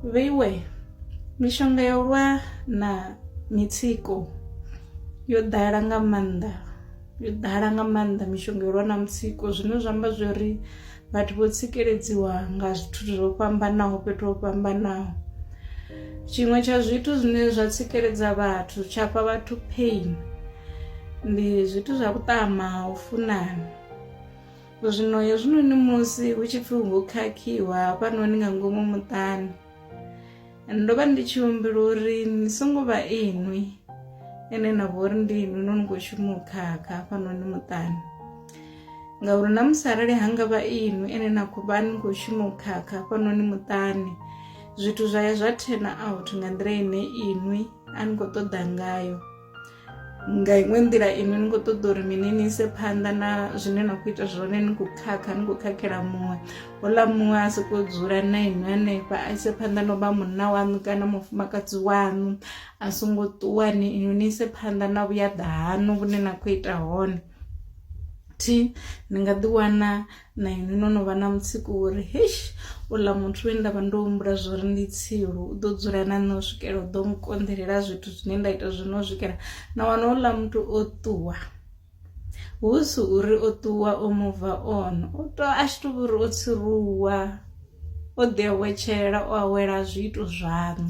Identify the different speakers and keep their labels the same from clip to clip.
Speaker 1: vheiwe mishonga ya u lwa na mitsiko yo ḓala nga maanḓa yo ḓala nga maanḓa mishonga yo lwa na mutsiko zwine zwa amba zwi uri vhathu vho tsikeledziwa nga zwithu zwo fhambanaho fhethu ho fhambanaho tshiṅwe tsha zwithu zwine zwa tsikeledza vhathu tsha fha vhathu pain ndi zwithu zwa vhuṱama ha u funana Zwino hezwinoni musi hu tshi pfi ho khakhiwa hafhanoni nga ngomu muṱani ndo vha ndi tshi humbela uri ni songo vha inwi ene na vho uri ndi inwi no ni khou shuma u khakha hafhanoni muṱani ngauri na musi arali ha nga vha inwi ene na khou vha ni khou shuma u khakha hafhanoni muṱani zwithu zwa ya zwa turn out nga nḓila ine inwi a ni khou ṱoḓa ngayo nga iṅwe nḓila inwi ni khou ṱoḓa uri mini ni ise phanḓa na zwine na khou ita zwone ni khou khakha ni khou khakhela muṅwe ola muṅwe a soko dzula na inwi hanefha a ise phanḓa no vha munna waṋu kana mufumakadzi waṋu a songo ṱuwa ni inwi ni ise phanḓa na vhuyaḓa haṋu vhune na khou ita hone thi ni nga ḓi wana na inwi no no vha na mutsiko wo ri heish uḽa muthu we nda vha ndo humbula zwo ri ndi tsilu u ḓo dzula na nṋe u swikela u ḓo nkonḓelela zwithu zwine nda ita zwino u swikela na wana uḽa muthu o ṱuwa hu si uri o ṱuwa o muva on o to a tshi to uri o tsiruwa o ḓi awetshela o awela zwiito zwaṋu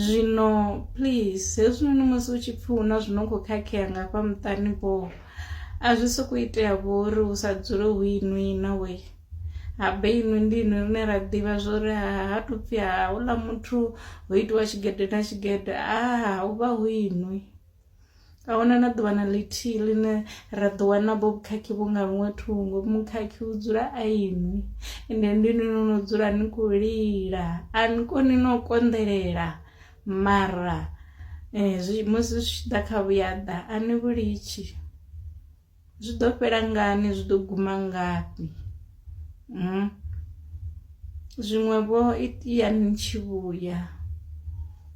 Speaker 1: zwino please hezwinoni musi u tshi pfhi hu na zwino khou khakhea nga fha muṱani boo a zwi soko itea vho uri hu sa dzule hu inwi inwe we habe inwi ndi inwi rine ra ḓivha zwo ri ha tu pfhi ha uḽa muthu ho itiwa tshigede na tshigede a hu vha hu inwi a huna na ḓuvha na ḽithihi ḽine ra ḓo wana bo vhukhakhi vhu nga luṅwe thungo mukhakhi u dzula a inwi ende ndi inwi no no dzula ni khou lila a ni koni no konḓelela Mara zwi musi zwi tshi ḓa kha vhuyaḓa a ni vhu litshi zwi ḓo fhela ngani zwi ḓo guma ngafhi, zwiṅwe vho itea ni tshi vhuya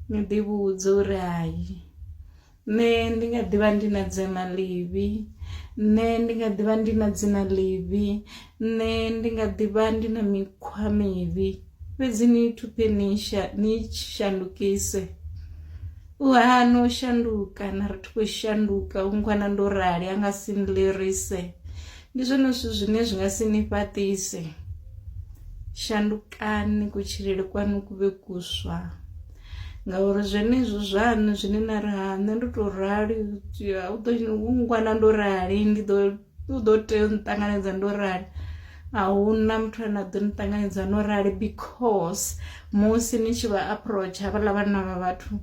Speaker 1: ni ḓi vhudza uri hayi. Nṋe ndi nga ḓivha ndi na dzina ḽivhi nṋe ndi nga ḓivha ndi na dzina ḽivhi nṋe ndi nga ḓivha ndi na mikhwa mivhi fhedzi ni thuphe ni sha ni shandukise u hana u shanduka na ri thi khou shanduka u ngwana ndo rali a nga si nlirise ndi zwone zwithu zwine zwi nga si ni fhaṱise shandukani kutshilele kwanu ku vhe kuswa. ngauri zwenezwo zwaṋu zwine na ri ha nṋe ndo to rali u ḓo ngwana ndo rali ndi ḓo u ḓo tea u nṱanganedza ndo rali ahuna muthu ane a ḓo ni ṱanganedza no rali because musi ni tshi vha approach havhaḽa vhanna vha vhathu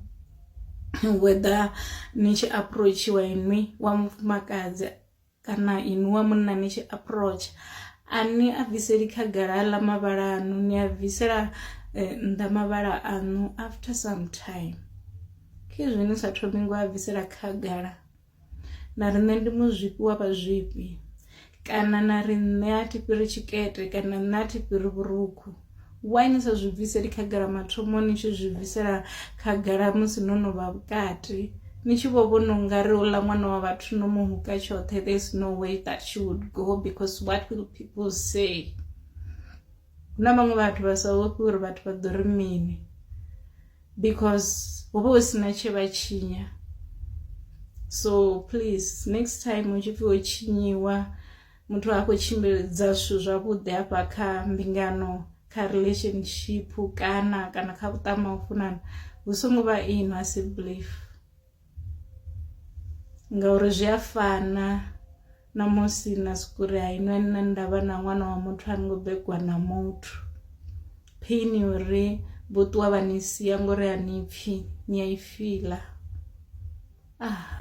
Speaker 1: whether ni tshi approachiwa inwi wa mufumakadzi kana inwi wa munna ni tshi approach a ni a bviseli khagala aḽa mavhala aṋu ni a bvisela eh, nnḓa mavhala aṋu after some time khezwi ni sa thomi ngo a bvisela khagala na ri nṋe ndi muzwifhi wa vhazwifhi kana na ri nṋe a thi fhiri tshikete kana nṋe a thi fhiri vhurukhu why ni sa zwi bviseli khagala mathomo ni tshi zwi bvisela khagala musi no no vha vhukati ni tshi vho vhona ungari uḽa ṅwana wa vhathu no mu huka tshoṱhe there is no way that she would go because what will people say hu na vhaṅwe vhathu vha sa vhofhi uri vhathu vha ḓo ri mini because ho vha hu sina tshe vha tshinya so please next time u tshi pfhi ho tshinyiwa muthu a khou tshimbiledza zwithu zwavhuḓi hafha kha mbingano kha relationship kana kana kha vhuṱama u funana hu songo vha ino a si belief ngauri zwi a fana na musi na sikuri ha inwe nṋe ndavha na ṅwana wa muthu a ngo begwa na muthu phini uri vho ṱuwa vha ni sia ngori a ni pfhi ni a i fila ah